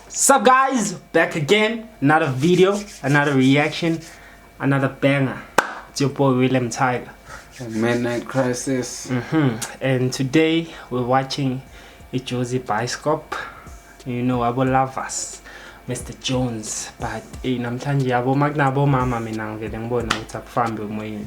Sup guys, back again, another video, another reaction, another banger. It's your boy William Tiger. Midnight Crisis. Mm -hmm. And today we're watching a Josie Bioscope. You know, abo lovers. Mr Jones but eh namhlanje yabo makunabo mama mina ngivele ngibona ukuthi akufambi emoyeni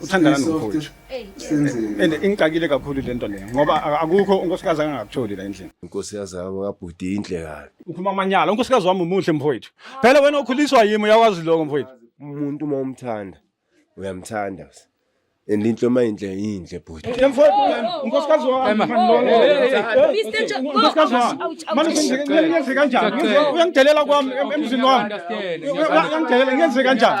uthandana nomfowethu and ingixakile kakhulu le nto leyo ngoba akukho unkosikazi angangakutholi la endlini inkosi yazama kabhuti inhle kabi uphuma amanyala unkosikazi wami umuhle mfowethu phela wena okhuliswa yimi uyakwazi lokho mfowethu umuntu uma umthanda uyamthanda and into uma inhle yinhle bhuti unkosikazi wami ngiyenze kanjani uyangidelela kwami emzini wami uyangidelela ngiyenze kanjani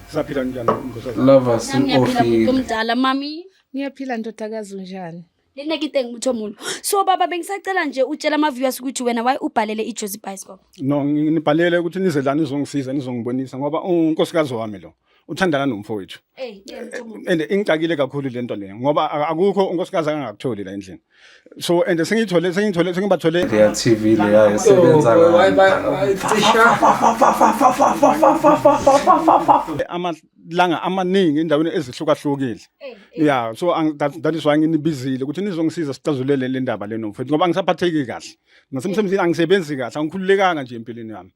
Saphila njani nkosazana? Lovers in Nami ngiyaphila office. muntu omdala mami. Ngiyaphila ndodakazi unjani? Lena kite ngimutho mulo. So baba bengisacela nje utshela ama viewers ukuthi wena why ubhalele i Jozi Bicycle. No ngi- nibhalele ukuthi nize la nizongisiza nizongibonisa ngoba unkosikazi wami lo uthandana nomfowethu. Eh, ngiyamutho mulo. And ingixakile kakhulu lento le ngoba a- akukho unkosikazi angakutholi la endlini. so and sengiyithole sengiyithole sengibathole leya TV leya esebenza amalanga amaningi endaweni ezihlukahlukile yeah so that is why nginibizile ukuthi nizongisiza sicazulele le ndaba leno mfethu ngoba ngisaphatheki kahle ngasemsebenzini angisebenzi kahle angikhululekanga nje empilweni yami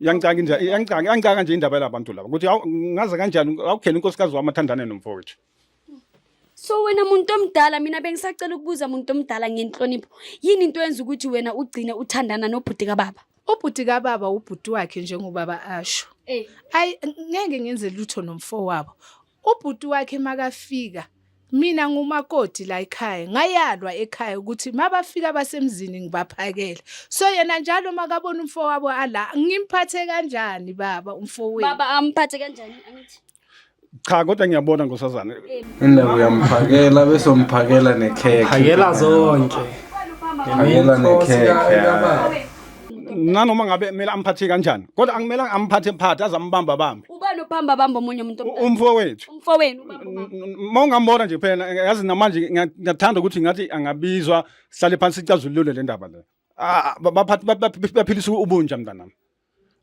Yangicanga nje yangicanga yangicanga nje indaba yalabantu laba ukuthi ngaze kanjani awukhele inkosikazi wami athandane nomfowethu. So wena muntu omdala mina bengisacela ukubuza muntu omdala ngenhlonipho yini into yenza ukuthi wena ugcine uthandana nobhuti kababa? Ubhuti kababa ubhuti wakhe njengobaba asho. Eh. Ayi ngeke ngenze lutho nomfowabo. Ubhuti wakhe makafika mina ngumakoti la ekhaya ngayalwa ekhaya ukuthi mabafika basemzini ngibaphakele so yena njalo makabona umfo wabo ala ngimphathe kanjani baba umfo wenu baba amphathe kanjani angithi cha kodwa ngiyabona ngosazana mina uyamphakela bese umphakela nekhekhe phakela zonke phakela nekhekhe nanoma ngabe kumele amphathe kanjani kodwa angimele amphathe mphathe azambamba bambe ubani obamba bamba omunye umuntu omdala? umfowethu umfowenu ubamba ubamba. uma ungambona nje phela yazi namanje ngiya- ngiyathanda ukuthi ngathi angabizwa sihlale phansi sicazulule le ndaba le Ah, ba- baphathi- ba- ba- baphilisa ubunja mntanami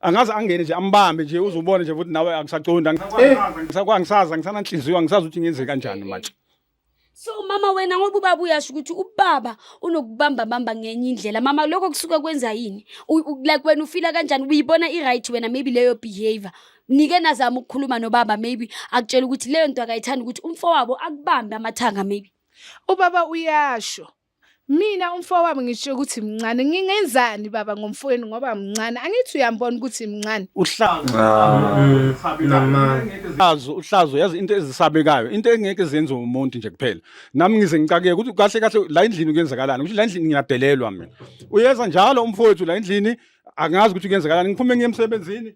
angaze angene nje ambambe nje uzubone nje ukuthi nawe angisaqondi angisakwa angisazi angisananhliziyo angisazi ukuthi ngenze kanjani manje so mama wena ngoba ubaba uyasho ukuthi ubaba unokubamba bamba ngenye indlela mama lokho kusuke kwenza yini like wena ufila kanjani uyibona i-right wena maybe leyo behavior nike nazama ukukhuluma nobaba maybe akutshela ukuthi leyo nto akayithandi ukuthi umfowabo akubambe amathanga maybe ubaba uyasho Mina umfowabo ngisho ukuthi mncane ngingenzani baba ngomfowenu ngoba mncane angithi uyambona ukuthi mncane. Uhlazo. Uhlazo uhlazo yazi into ezisabekayo into engeke zenze umuntu nje kuphela. Nami ngize ngicakeke ukuthi kahle kahle la endlini kuyenzakalani ukuthi la endlini ngiyadelelwa mina. Uyeza njalo umfowethu la endlini angazi ukuthi kuyenzakalani ngiphume ngiye emsebenzini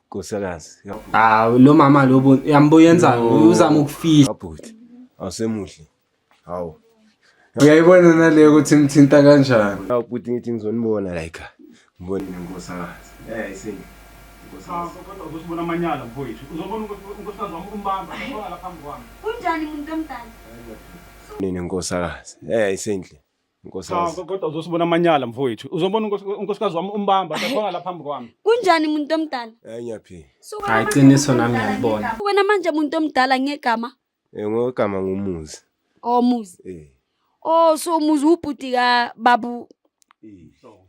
Nkosikazi. Ah lo mama lo uyambo yenza uzama ukufihla. Abhuti. Awusemuhle. Hawu. Uyayibona nale ukuthi imthinta kanjani. Hawu bhuti ngithi ngizonibona la ekhaya. Ngibone inkosikazi. Eh isinto. Kunjani muntu omdala? Nini nkosakazi? Eh isinhle. Nkosikazi. Cha kodwa uzosibona amanyala mfowethu. Uzobona unkos- unkosikazi wami umbamba akhona la phambi kwami. Kunjani muntu omdala? Hayi ngiyaphila. Suka Hayi, manje, qiniso muntu nami omdala ngiyalibona. ngegama. Wena manje muntu omdala ngegama Eh ngogama ngumuzi. omuzi. Eh. Oh so umuzi ubhuti ka babu.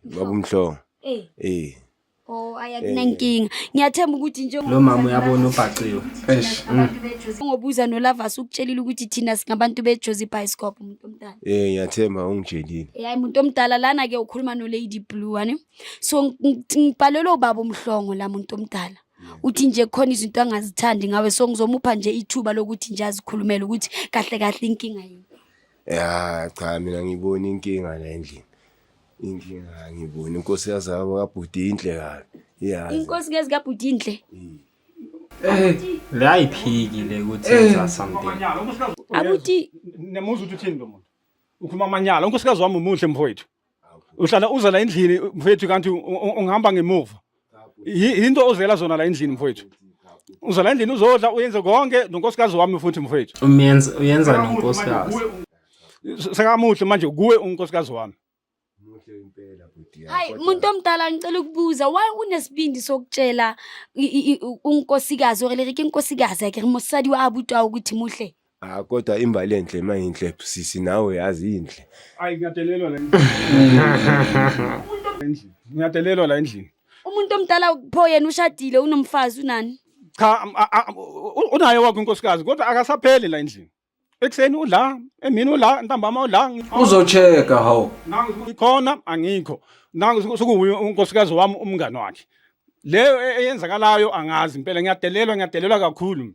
Babumhlongo. Eh. Eh. Oh ayakunankinga. Ngiyathemba ukuthi nje Lo mama uyabona ubhaciwe. Eish. Mm. ngobuza noLavas ukutshelile ukuthi thina singabantu beJozi Bioscope umuntu omdala. Eh ngiyathemba ungitshelile. Hayi umuntu omdala lana ke ukhuluma no Lady Blue wani. So ng- ng- ngibhalelwe ubaba umhlongo la muntu omdala. Uthi nje khona izinto angazithandi ngawe so ngizomupha nje ithuba lokuthi nje azikhulumele ukuthi kahle kahle inkinga yini. Ya cha mina ngibona inkinga la endlini. inkinga angiboni inkosi yazama kabhuti inhle kabi iyazi inkosi kazi kabhuti inhle eh layiphikile ukuthi yenza something abuti nemuzi uthi uthini lo muntu ukhuluma amanyala unkosikazi wami umuhle mfowethu uhlala uza la endlini mfowethu kanti ungihamba ngemuva yinto ozela zona la endlini mfowethu uzala endlini uzodla uyenze konke nonkosikazi wami futhi mfowethu umenza uyenza nonkosikazi sekamuhle manje kuwe unkosikazi wami hayi muntu omdala ngicela ukubuza why unesibindi sokutshela unkosikazi or lerike inkosikazi yakhe mosadi wa abutwa ukuthi muhle Ah kodwa imbali enhle mayinhle sisi nawe yazi inhle. Ayi ngiyadelelwa la endlini. Endlini. Ngiyadelelwa la endlini. umuntu omdala pho yena ushadile unomfazi unani Cha am- a- a- u- unaye wakhe unkosikazi kodwa akasapheli la endlini. Ekseni ula, emini ula, ntambama ula. Uzocheka hawu. Nangu ngikhona angikho. Nangu sokuwuye unkosikazi wami umngani wakhe. Leyo e- eyenzakalayo angazi impela ngiyadelelwa ngiyadelelwa kakhulu.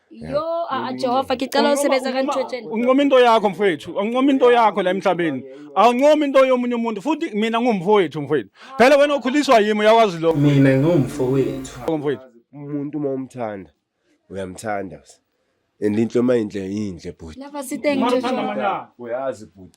Yo, ah, ah, Jehova, ngicela usebenza kanjotsheni. Unqoma into yakho mfowethu, unqoma into yakho la emhlabeni. Awunqoma into yomunye umuntu futhi mina ngumfowethu mfowethu. Phela wena ukhuliswa yimi uyakwazi lokho Mina ngumfowethu. mfowethu. umuntu uma umthanda uyamthanda and into uma inhle yinhle bhuti Lava sithengi Uma uthanda Jehova. amanyala. uyazi bhuti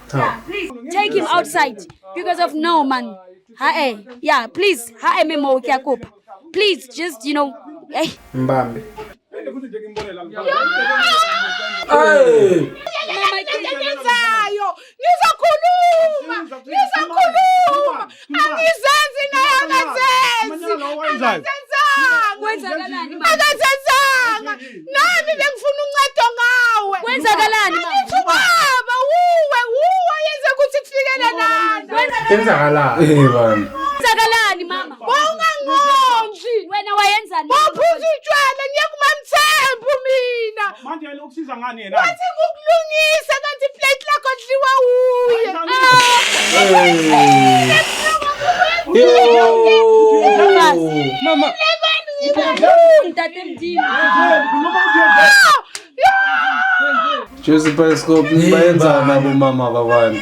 Cha. Take him outside because of no man. Hae, yeah, please. Hae memo ukiakupa. Please just, you know, hey. Mbambe. Ngizakhuluma. Ngizakhuluma. Angizenzi naye akazenzi. Kwenzakalani? Akazenzanga. Nami bengifuna uncedo ngawe. Kwenzakalani? Angithi ubaba wuwe wuwe yenze ukuthi kufikele lana. Kwenzakalani? Eh bani. Kwenzakalani mama? Wawungangondli. Wena wayenzani? Waphuza utshwala ngiye kumamthembu mina. Manje Usiza ngani yena? Wathi ngukulungisa kanti plate lakho dliwa uye. Mama. Joseph Periscope bayenza nabo mama babantu.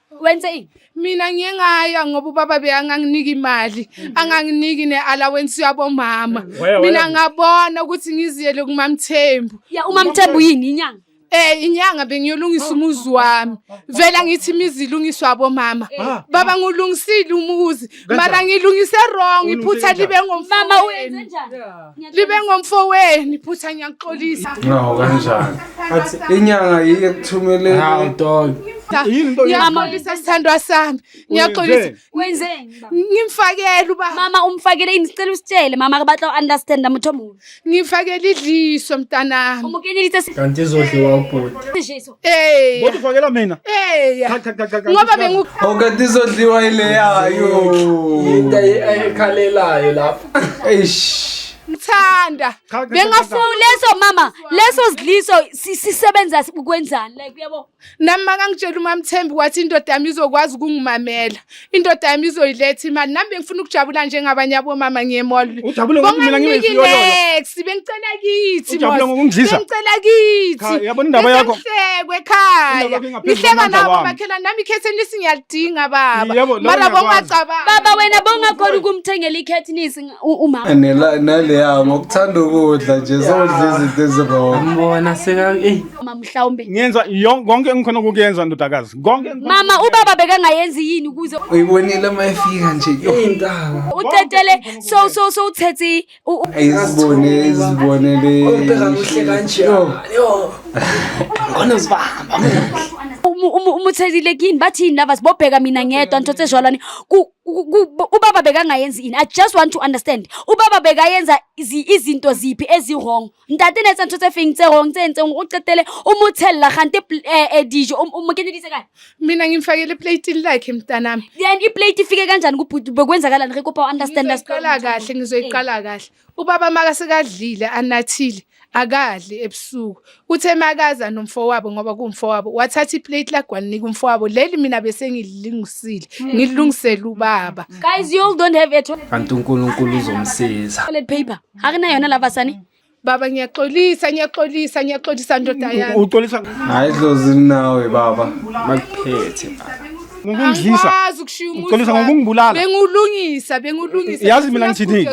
wenze ini mina ngiye ngaya ngoba ubaba beyanganginika imali mhm. anganginiki ne-allowance yabomama mina ngabona ukuthi ngiziyele kumamthembu ya umamthembu yini inyanga Eh inyanga bengiyolungisa oh, umuzi oh, oh, wami. Vela ngithi imizi ilungiswa abomama. Eh. Baba ngulungisile umuzi. mara ngilungise wrong iphutha libe ngomfama wenu libe ngomfo wenu iphutha ngiyaxolisa no kanjani athi inyanga yiye kuthumele hawu dog yini into ngiyaxolisa sithandwa sami ngiyaxolisa wenzeni ngimfakele uba mama umfakele ini sicela usitshele mama akabatla understand muthomulo Ngifakela idliso mntanami. Umukeni lithe si. Kanti izodliwa ubhuti. Idliso. Eh. Kodwa ufakela mina. Eh. Ngoba bengu Oh kanti izodliwa ile yayo. Into ayikhalelayo lapha. Eish. Ngithanda. Bengafuni leso mama, leso zidliso sisebenza ukwenzani like uyabo. nami makangitshela umamthembi wathi indoda yami izokwazi ukungimamela indoda yami izoyiletha imali nami bengifuna ukujabula njengabanye abomama ngiyemolbonganex bengicela kithi bengicela kithihlekwe ekhaya ngihleka nabo makhelani nami ikhethi enisi ngiyalidinga baba mara bongacabanga baba wena bongakhona ukumthengela ikhethi nisi umama naleya ngokuthanda ukudla nje zodla izinto ezirong mbona seka eyi Mama mhlawumbe. Ngenza yon- konke engikhona ukukuyenza ndodakazi. Konke engikhona- Mama ubaba bekangayenzi yini ukuze uyibonile uma efika nje yo utetele so so so uthethe u- u- ayizibone izibonele Ubheka kuhle kanje. Yo. Khona uzibamba. umu- umu- umuthelile kini bathini lava sibobheka mina ngedwa nthothe jwalwani Ku- ku- ku- ubaba bekangayenzi yini i just want to understand ubaba bekayenza izi- izinto ziphi eziwrong ntate ne etsa ntho tse feng tse rong tse entseng o qetele o mo tshella gante eh, eh, dijo o mo kenyeditse kae mina ngimfakele plate lakhe mntanami then iplate ifike kanjani kubhuti bekwenzakalani re kopa understand us qala kahle ngizoyiqala eh. kahle ubaba maka sekadlile anathile akadli ebusuku uthe makaza nomfowabo ngoba kumfowabo wathatha iplate lagwalinika umfowabo leli mina bese ngililungisile hmm. ngilungisele ubaba guys you all don't have a kanti uNkulunkulu uzomsiza toilet paper Akuna yona lava sani. Baba ngiyaxolisa ngiyaxolisa ngiyaxolisa ndoda yami. Uxolisa hayi dlozi nawe baba. Makuphethe baba. Ngokungidlisa. Uxolisa ngokungibulala. Bengulungisa bengulungisa. Yazi mina ngithini?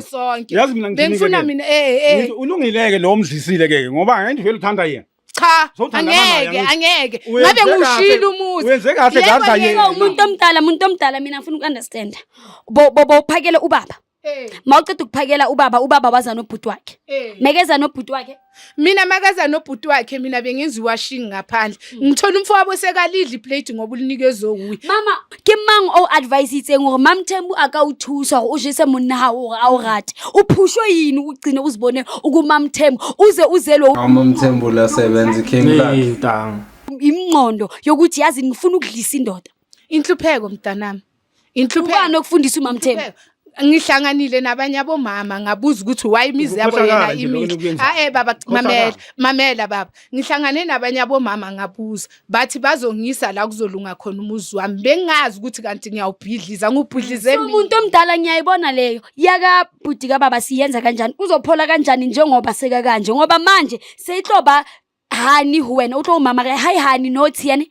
Yazi mina ngithini? Bengifuna mina eh eh. Ulungileke lo omdlisile ke ngoba ngeke vele uthanda yena. cha angeke angeke ngabe ngushilo umuzi wenze kahle ngadla yena umuntu omdala umuntu omdala mina ngifuna ukunderstanda bo bo phakele ubaba Eh. mawuceda ukuphakela ubaba ubaba waza nobhuti wakhe eh. mekeza nobhuti wakhe mina makaza nobhuti wakhe mina bengenza iwashing ngaphandle hmm. ngithola umfo wabo sekalidla iplate ngoba ulinikezwe wuye mama ke mang o advise itseng gore mam thembu a ka o thusa gore o jese monna ga gore a o rate o phushwe yini o cine o se bone o ko mam thembu o ze o zelwe mam thembu la sebenzi came back imnqondo yokuthi yazi ngifuna ukudlisa indoda inhlupheko mntanami Inhluphekano okufundisa uMamthembu. ngihlanganile nabanye abomama ngabuza ukuthi why imizi yabo Ukukhohlakala yena nje lokho imile enikuyenzayo. hae baba Ukukhohlakala. mamela mamela baba ngihlangane nabanye abomama ngabuza bathi bazongisa la kuzolunga khona umuzi wami bengazi ukuthi kanti ngiyawubhidliza ngubhidlize mina umuntu omdala ngiyayibona leyo yaka bhuti kababa siyenza kanjani uzophola kanjani njengoba seka kanje ngoba manje seyihloba hani ho wena o tlo o mamare ha e hane notes yane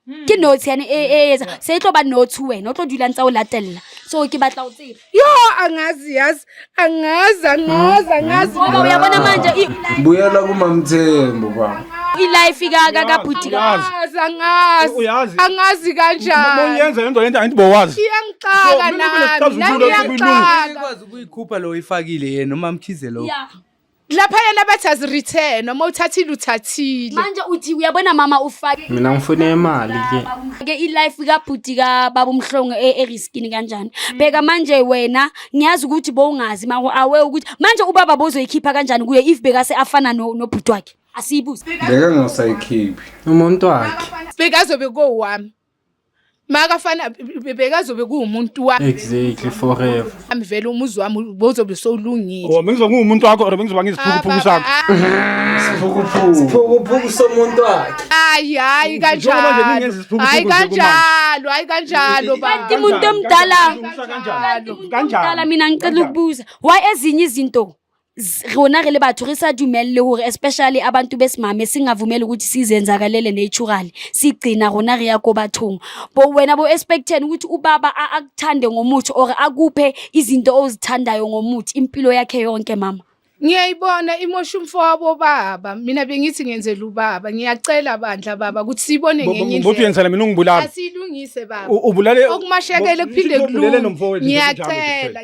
Hmm. ke notes yane e e etsa se e tlo ba notes ho wena o tlo dula ntsa o latella so ke batla o tseba yo angazi yazi angazi angazi angazi ngoba uyabona manje i- buyela kumamthembu baba i-life ka ka ka bhuti ka Uyazi. angazi angazi Uyazi. angazi Uma kanjani uyenza lento lento angithi bowazi. iyangixaka So, mina nami nami kunesixazululo esikuyi- iyangixaka ikwazi ukuyikhupha lo oyifakile yena umamkhize lo Yeah. laphayana bathi azireturn noma uthathile uthathile manje uthi uyabona mama ufake mina ngifune imali ke ke ilife kabhuti kababa umhlongo e- eriskini kanjani bheka manje wena ngiyazi ukuthi bowungazi mako awe ukuthi manje ubaba bozoyikhipha kanjani kuye if bekase afana no- nobhuti wakhe asiyibuze beka ngasayikhiphi umuntu wakhe bekazobe kowami makafana bekazobe kuwumuntu wami exactly forever ami vele umuzi wami bozobe sowulungile oh bengizobe ngiwumuntu wakho or bengizoba ngiziphukuphuku sakho siphukuphuku somuntu wakhe hayi hayi kanjalo hayi kanjalo hayi kanjalo kanti umuntu omdala kanjalo mina ngicela ukubuza why ezinye izinto s- rona re le batho re sa dumelele hore especially abantu besimame singavumeli ukuthi sizenzakalele naturally sigcina rona re ya ko bathong bo wena bo expecten ukuthi ubaba a- akuthande ngomuthi or akuphe izinto ozithandayo ngomuthi impilo yakhe yonke mama ngiyayibona imosha umfo wabo baba mina bengithi ngenzela ubaba ngiyacela bandla baba ukuthi siyibone Bo- bo- ngenye Mbuthi indlela uyenzela mina ungibulala. asiyilungise baba U- ubulale okumashekele Bo- kuphinde Mbuthi ubulele kulunge nomfowethu, ngiyacela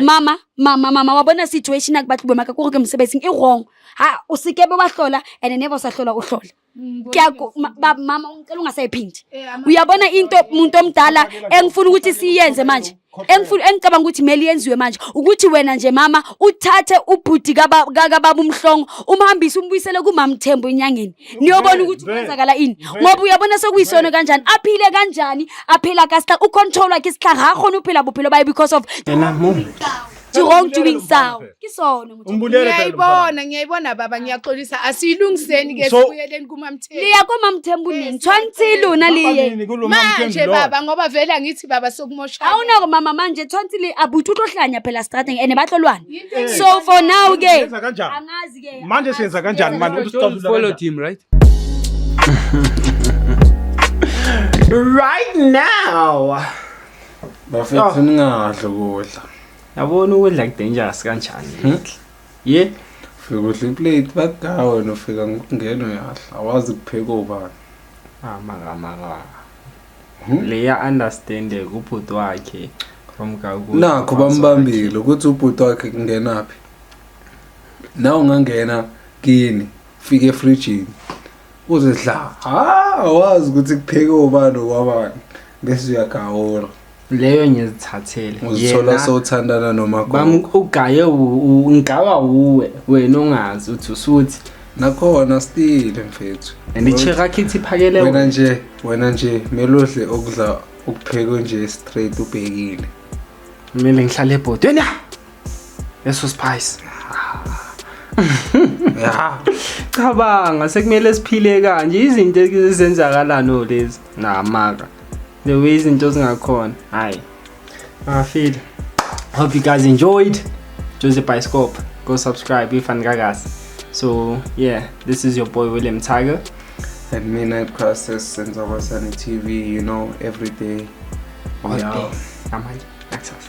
mama mama mama wa bona situation a ke batlo bomaka ko ke mosebetsing e wrong ha o se kebe wa hlola and never o sa hlola o hlola mm, ke a ba mama ngicela ungasayiphindi eh, uyabona into umuntu omdala engifuna ukuthi siyenze manje engifuna engicabanga ukuthi meli yenziwe manje ukuthi wena nje mama uthathe ubhuti ka baba umhlongo umhambise umbuyisele kumamthembu enyangeni niyobona ukuthi ukwenzakala ini ngoba uyabona sekuyisono kanjani aphile kanjani aphila kasihla ucontrol wakhe isihla ngakhona uphila buphilo baye because of yena mom wrong doing sound kisono ngiyayibona ngiyayibona baba ngiyaxolisa asiyilungiseni ke sibuyeleni kumamthembu liya kumamthembu nini tshwanthi lona liye manje baba ngoba vele angithi baba sokumosha awunako mama manje tshwanthi li abuthi utohlanya phela strateng and batlolwana so for now ke angazi manje siyenza kanjani manje ukuthi Don't sixazulula follow kanjani? him, right? right now bafethu ningadli ukudla yabona ukudla kudangerous kanjani ye ufika udla iplate bagaa wena ufika ngokungena uyadla awazi kupheka obani amakamaka Hmm? leya understande kubhuti wakhe nakho bambambile ukuthi ubhuti wakhe kungenaphi na ungangena kini fika efrijini uzidla ha wazi ukuthi kupheke obani okwabani bese uyagawula leyo ngizithathele uzithola sowuthandana noma ugaye ngigawa wuwe wena ongazi uthi usuthi nakhona stile mfethu and icherakhithi iphakele wena nje wena nje melodle okudla ukuphekwe nje straight ubhekile kumele ngihlale ebhodweni Eso spice. Ya. Cabanga sekumele siphile kanje izinto ezenzakalano lezi. Namaka. The way izinto zingakhona. Hayi. Ngafile. Hope you guys enjoyed. Jose Bioscope. Go subscribe if and gagas. So yeah, this is your boy William Tiger. At midnight process and Zobasani TV, you know, every day. Oh, yeah. Amanje. Access.